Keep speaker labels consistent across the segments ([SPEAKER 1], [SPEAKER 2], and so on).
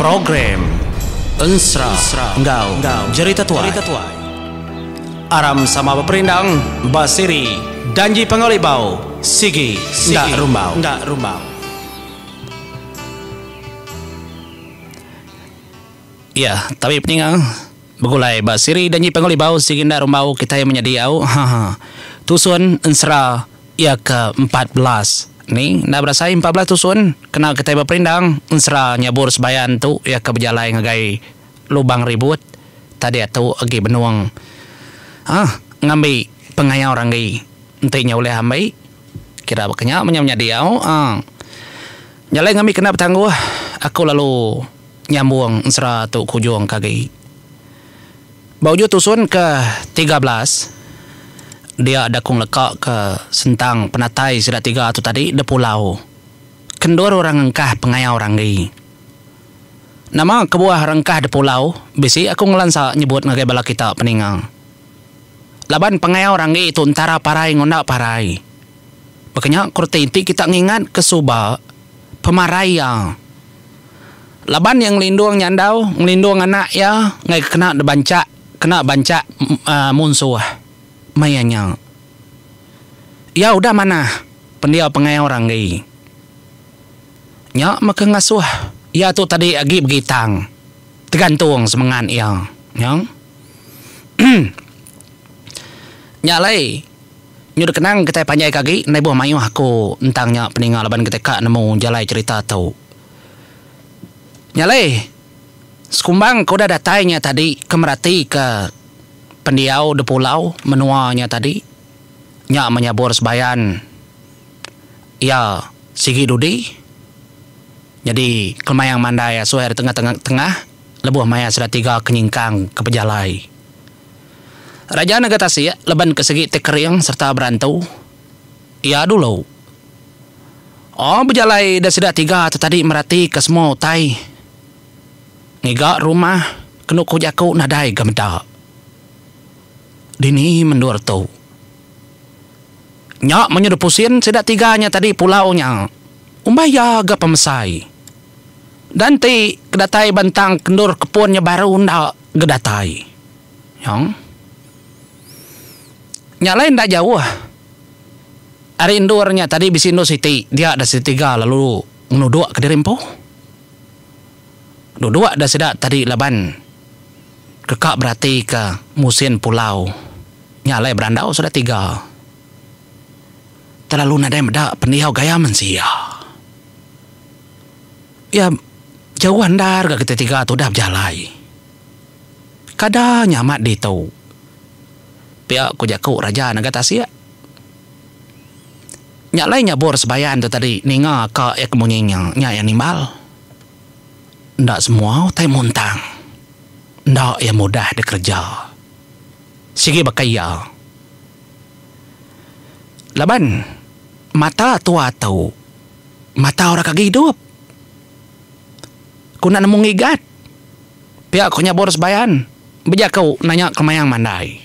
[SPEAKER 1] Program Ensera enggau Jerita Tuai aram sama beperindang ba siri Danji Pangauli Bau Sigi Enda Rumbau. Iya, tabi peninga. Begulai ba siri danyi pangulibau sigi enda rumbau kitai menyadi au haha tusun ensera iya ke empat belas ni enda berasai empat belas tusun kena kitai beperindang ensera nyabur sebayan tu iya ke bejalai ngagai lubang ribut tadi tu agi benung ah ngambi pengayau ranggi enti nya ulih ambi kira baka nya menyadi au ah jalai ngambi kena betangguh aku lalu. nyambung ensera tu ke ujung ke agi. Ba ujung tusun ke tiga belas, dia da ku ngeleka ke sentang penatai sida tiga tu tadi da pulau ke endur orang engkah pengayau ranggi. Nama kebuah orang engkah da pulau bisi aku ngelansa nyebut ngagai bala kita peninga. Laban pengayau ranggi tu entara parai ngonda parai. Baka nya ku reti enti kita ngingatka suba pemarai iya laban iya ngelindung nyandau, ngelindung anak iya ngagai kena dibanchak, kena banchak munsuh. Maya nya iya udah manah pendiau pengail orang agi. Nya meh ke ngasuh iya tu tadi agi begitang tegantung semengat iya. Nya alai. Nyu dekenang kitai panjai ke agi endai ibuh mayuh aku entang nya peninga laban kitai ka nemu jalai cerita tu. Nyalai sekumbang ke udah datai nya tadi ke merati ke pendiau di pulau menua nya tadi nya menyabur sebayan iya sigi dudi nyadi kelemayang mandai asuh iya di tengah tengah lebuh maya sida tiga ke nyingkang ke pejalai. Raja nega tasik leban ke segi ti kering serta berantu iya dulu. Oh bejalai ida sida tiga tu tadi meratika semua utai ngiga rumah kenu ku jaku nadai ga meda. Dini mendur tu nya menyuh dipusin sida tiga nya tadi pulau nya umbah iya ga pemesai dan ti ke datai bentang kendur kepun nya baru enda ga datai. Nyong. Nya alai enda jauh ari endur nya tadi bisi endur siti dia da siti tiga lalu ngenuduk ka diri empu. Duduk da sida tadi laban deka beratika musin pulau nya alai berandau sudah tiga. Terlalu nadai meda pendiau gaya mensia. Iya jauh andar ga kita tiga tu udah bejalai. Kada nya amat ditu. Pia ku jaku Raja Naga Tasik. Nya alai nyabur sebayan tu tadi ninga ka iya ke munyi nya, nya iya nimbal. Enda semua utai muntang enda iya mudah dikereja. Sigi baka iya. Laban mata tua tu mata orang ke gidup. Ku enda nemu ngigat. Pia ku nyabur Sebayan bejaku nanya kemayang mandai.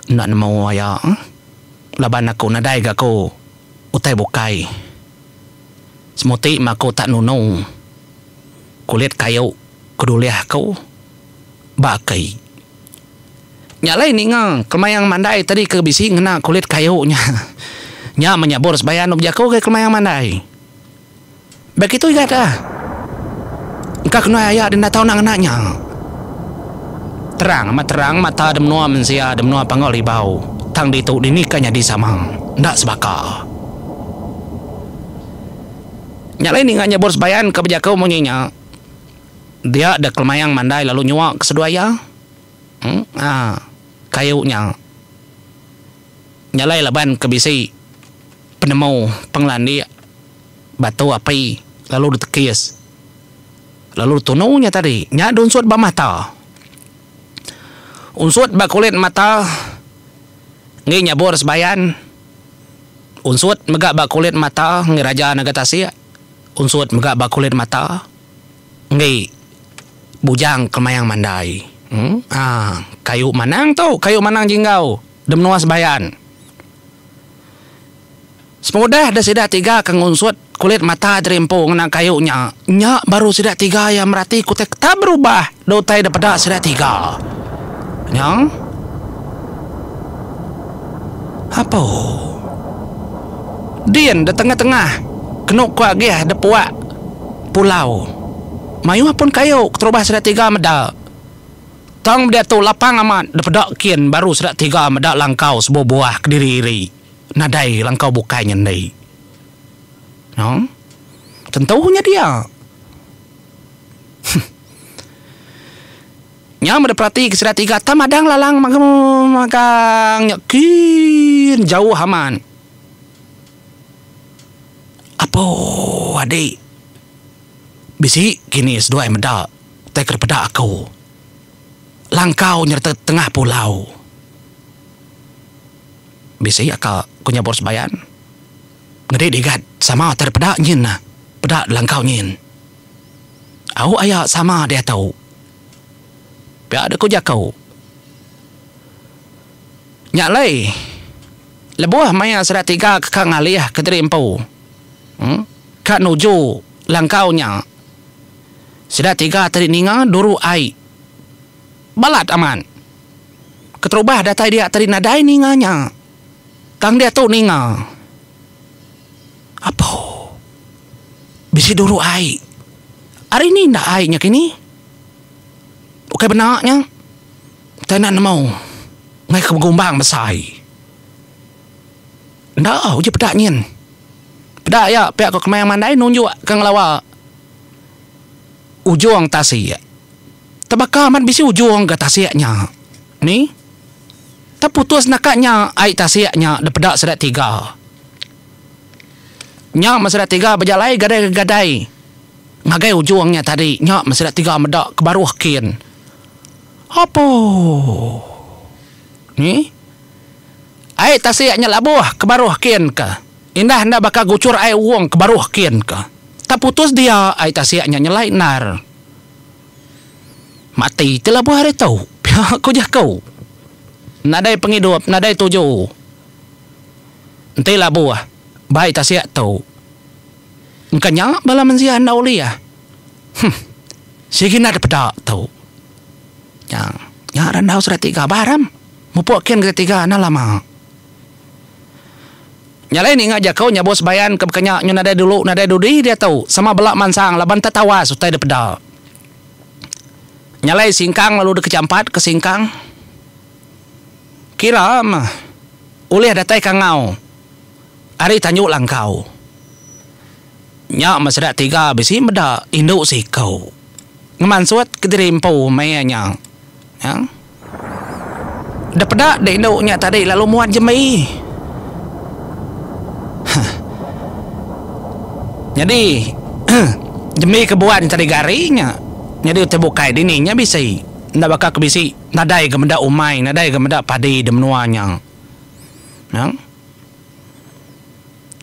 [SPEAKER 1] Enda nemu aya laban aku nadai ga ku utai bukai. Semuti meh aku tak nunu kulit kayu ke dulih aku ba aki. Nya alai ninga kemayang mandai tadi ke bisi ngena kulit kayu nya. Nya meh nyabur Sebayan dok bejaku ke kemayang mandai. Beg itu iya da engka kenuai aya denda tau enda ngena nya. Terang amat terang mata de menua mensia de menua Panggau Libau tang ditu dini ka nyadi sama enda sebaka. Nya alai ninga nyebur Sebayan ka bejaku munyi nya dia da Kelemaing mandai lalu nyua ke seduai iya. Haa kayu nya. Nyalai laban ke bisi penemu pengelandik batu api lalu ditekis lalu ditunu nya tadi nya diunsut ba mata. Unsut ba kulit mata enggi nyabur sebayan, unsut mega ba kulit mata enggi raja naga tasik, unsut mega ba kulit mata enggi bujang kemayang mandai. Uhh kayu manang tu, kayu manang jinggau. De menua sebayan. Semudah de sida tiga ke ngunsut kulit mata Jeri Empu ngena kayu nya, nya baru sida tiga iya merati ke utai ketap berubah da utai de peda sida tiga. Nya apo din de tengah-tengah kenu ku agih de puak pulau mayuh pun kayu keterubah sida tiga meda. Tang meda tu lapang amat dipeda kin baru sida tiga meda langkau sebuah-buah kediri iri nadai langkau bukai nyendi. No. Tentu nya dia. Huh. Nya meda peratika sida tiga tang madang lalang magang nya kin jauh amat. Apo adi bisi kini seduai meda. Utai ke dipeda aku, langkau nyereta tengah pulau. Bisi aka ku nyabur sebayan. Ngedi digat sama utai dipeda nyin nah peda langkau nyin. Au aya sama diatu. Pia deh ku jaku. Nya alai lebuh maya sida tiga ke ka ngalih ke diri empu ka nuju langkau nya Sida tiga tadi ninga duru ai balat amat. Keterubah datai dia tadi nadai ninga nya. Tang diatu ninga. Apo. Bisi duru ai. Ari ni enda ai nya kini. Ukai bena nya. Utai enda nemu. Ngaika begumbang besai. Enda uji peda nyin. Peda iya pia ko kemaya mandai nunjuk ka ngelawa ujung tasik. Tebaka amat bisi ujung ga tasik nya. Ni? Teputus naka nya ai tasik nya depeda sida tiga. Nya men sida tiga bejalai gadai-gadai ngagai ujung nya tadi nya men sida tiga meda ke baruh kin. Apuh. Ni? Ai tasik nya labuh ke baruh kin ke indah enda baka gucur ai uong ke baruh kin ke taputus dia ai tasik nya nyelai endar mati ti labuh hari tu pia ku jaku nadai pengidup nadai tuju enti labuh ba ai tasik tu engka nya bala mensia enda ulih huh sigi nda ada peda tu nya nya randau serati gabar am. Mupok ken gede tiga enda lama. Nya alai ninga jako nyabos bayan ke bekenya nyu nadai dulu nadai dudi diatu sama bela mansang laban enta tawas utai de peda. Nya alai singkang lalu deke champat ke singkang. Kira meh ulih datai ke angau ari tanju langkau. Nya meh sida tiga bisi meda indu siko. Ngemansut kediri empu maya nya. Nya. Da peda deh indu nya tadi lalu muat jembi. Huh. Nyadi jembi ke buan tadi gari nya nyadi utai bukai dini nya bisi enda baka ke bisi nadai ga meda umai nadai ga meda padi da menua nya. Nang.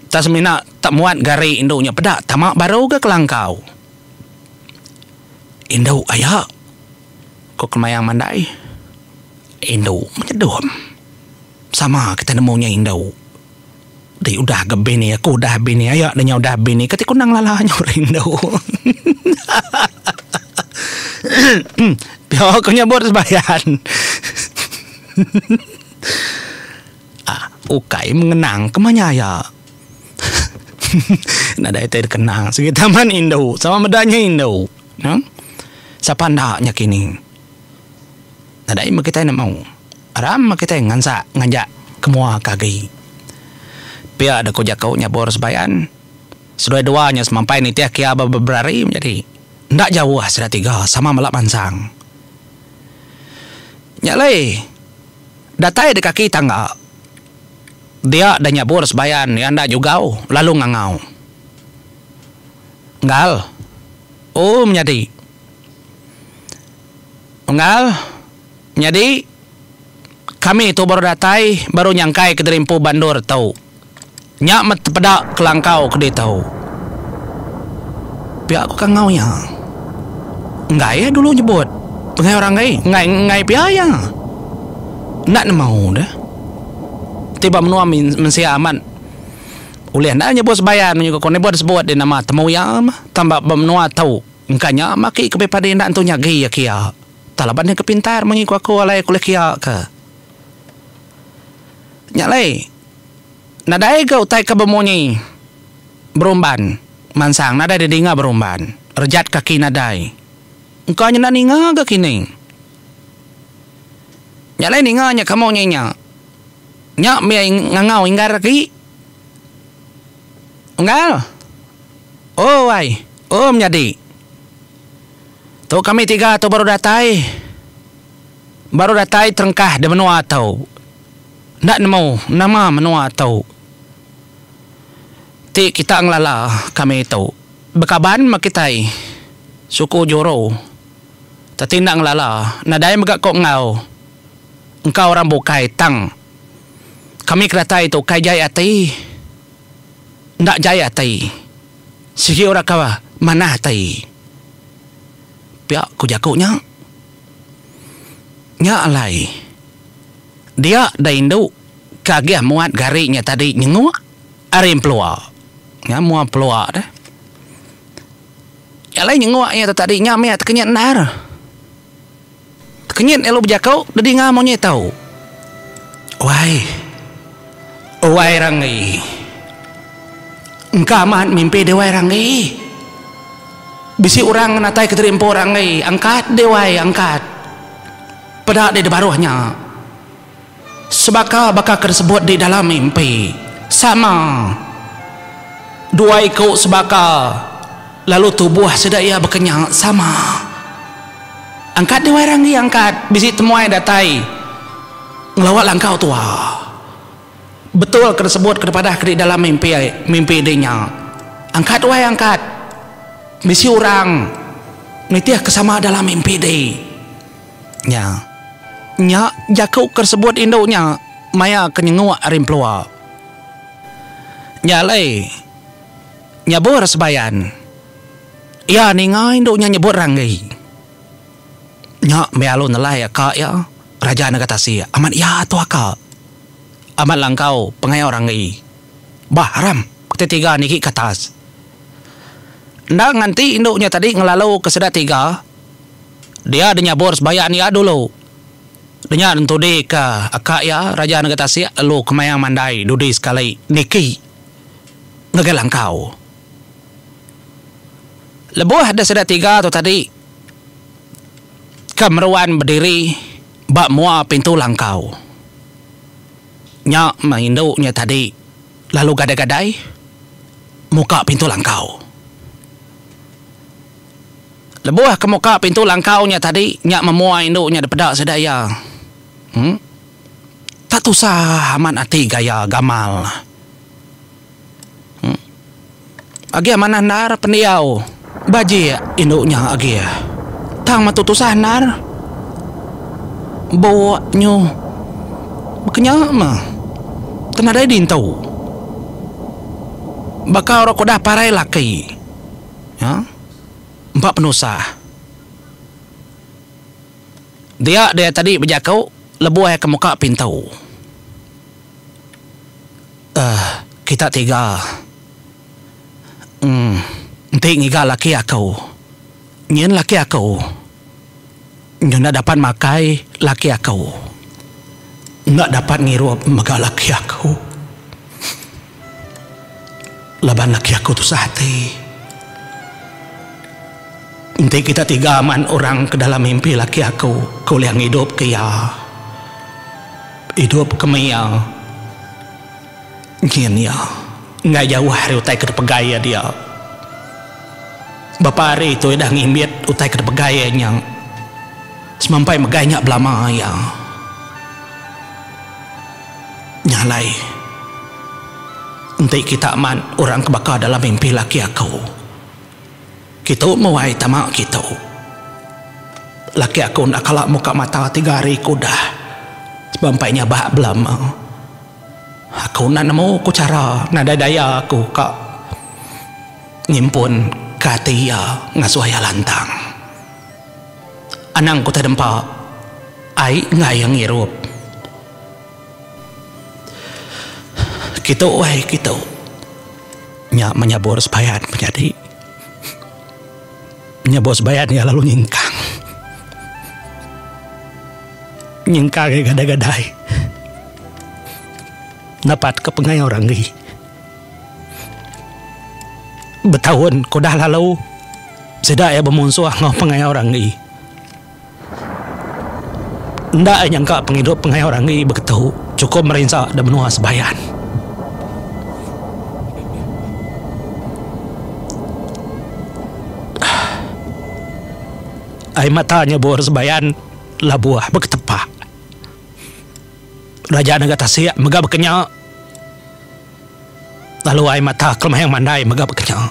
[SPEAKER 1] Tang semina tak muat gari indu nya peda tama baru ga kelangkau. Indu aya. Ku Kemayang Mandai, Indu menyedup. Sama kitai nemu nya indu. Ti udah ga bini aku udah bini aya ne nya udah bini kati ku nang lala nya rindu. Pia ku nyebut sebayan. Ukai mengenang ke manya aya. Nadai ti dikenang sigi taman indu sama meda nya indu. Nang sapa enda nya kini nadai meh kitai nemu aram meh kitai ngansak ngajak ke mua ke agi. Pia deh ku jaku nya Bor Sebayan. Seduai dua nya semampai nitih kia ba beberapa hari menyadi enda jauh sida tiga sama mela mansang. Nya alai datai deh kaki tangga dia deh nya Bor Sebayan iya enda jugau lalu ngangau. Unggal, u menyadi. Unggal, menyadi, kami tu baru datai baru nyangkai kediri empu bandur tu. Nya meh tepeda kelangkau ke ditu. Pia ku kangau iya. Enggai iya dulu nyebut penggai orang ai, enggai enggai pia iya. Enda nemu deh. Ti ba menua mensia amat. ulih enda nyebut sebayan menyuka ko nebut sebut di nama temu iya mah tang ba ba menua tu engka nya mah aki ke padi enda entu nyagi iya kia tang laban iya ke pintar mung iko aku alai kulih kia ka nya alai nadai ga utai ke bemunyi berumban mansang nadai di dinga berumban rejat kaki nadai engka nya enda ninga ga kini nya alai ninga nya ke munyi nya. Nya meh ngangau inggar aki. Unggal. Oh ai. Oh menyadi. Tu kami tiga tu baru datai. Baru datai terengkah di menua tu. Enda nemu nama menua tu. Ti kita ngelala kami tu. Bekaban meh kitai suku Joro. Teti enda ngelala. Nadai mega ko enggau. engka orang bukai tang kami ke datai tu kai jai ati enda jai ati sigi orang ke manah ati pia ku jaku nya nya alai dia da indu ke agih muat gari nya tadi nyenguk ari empelua nya mua empelua nya alai nyenguk iya tadi nya mih ati kinyit endar. Kenyit elu bejako dedinga monyet tau. Wai. Wai Ranggi. Engka amat mimpi deh wai Ranggi. Bisi orang ngenatai ke diri empu Ranggi. Angkat deh wai angkat. Peda deh dibaruh nya. Sebaka baka ke disebut di dalam mimpi, sama dua iku sebaka lalu tubuh sida iya bekenya sama. Angkat di Wairang agi angkat bisi temuai datai ngelawa langkau tua. Betul ke disebut ke dipadahka di dalam mimpi mimpi di nya. Angkat wai angkat bisi orang nitihka sama dalam mimpi di. nya. Nya jaku ke sebut indu nya maya ke nyenguk ari empelua. Nya alai nyabur sebayan. Iya ninga indu nya nyebut ranggi. Nya meh alu nelai aka iya, Raja Naga Tasik, amat iya tu aka. Amat langkau pengayau ranggi. Bah aram ti tiga nigi ke atas. Enda nganti indu nya tadi ngelalu ke sida tiga. Dia de nyabur sebayan iya dulu. Denya entudi ka aka iya Raja Nega Tasik lalu kemayang mandai dudi sekali niki ngagai langkau. Lebuh de sida tiga tu tadi ke meruan bediri ba mua pintu langkau. Nya meh indu nya tadi lalu gadai-gadai muka pintu langkau. Lebuh ke muka pintu langkau nya tadi nya memuai indu nya dipeda sida iya. Em. Tak tusah amat ati gaya gamal ne. Em. Agi amanah endar pendiau bajik indu nya agi. Tang metu tusah endar buk nyuh bekenya meh ke nadai dintu. Baka orang kudah parai laki. Em. empa penusah. Dia dia tadi bejaku lebuh ke muka pintu. Uhh kita tiga. Uhh enti ngiga laki aku. Nyin laki aku. Enda dapat makai laki aku. Enda dapat ngirup mega laki aku. Laban laki aku tusah ati. Enti kita tiga maan orang ke dalam mimpi laki aku ke ulih ngidupka iya. Idup ke maya. Nyin iya enggai jauh ari utai ke dipegai iya dia. Bapa ari tu udah ngimbit utai ke dipegai iya nya semampai megai nya belama iya nya alai. Enti kita amat orang ke baka dalam mimpi laki aku, kitu muai tama kitu. Laki aku enda kala muka mata tiga hari ke udah semampai nyabak belama. Aku enda nemu ku chara nadai daya aku ka ngimpun ka ati iya ngasuh iya lantang. Anang ku tedempa ai enggau iya ngirup. Kitu wai kitu nya menyabur sepayan penyadi. Nya bos bayan iya lalu nyingkang. Nyingkang iya gadai-gadai. Napat ke pengayo orang ri. Betaun ke udah lalu sida iya bemunsuh enggau pengayo orang ri. Enda ai nyangka pengidup pengayo Randi beketu chukup merinsa da menua Sebayan. Ai mata nyebur Sebayan labuh beketepa. Raja nengah tasik mega bekenya lalu ai mata kelemayang mandai mega bekenya.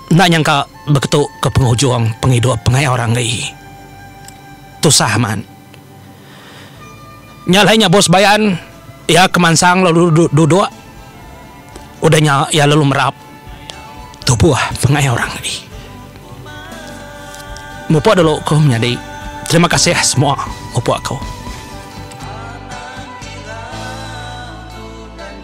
[SPEAKER 1] Enda nyangka beketu ke pengujung pengidup pengaik orang agi. Tusah amat. Nya alai nya Bos Bayan iya ke mansang lalu duduk udah nya iya lalu merap tubuh pengaik orang agi. Mupuk dulu ku menyadi. Terima kasih semua mupuk ku.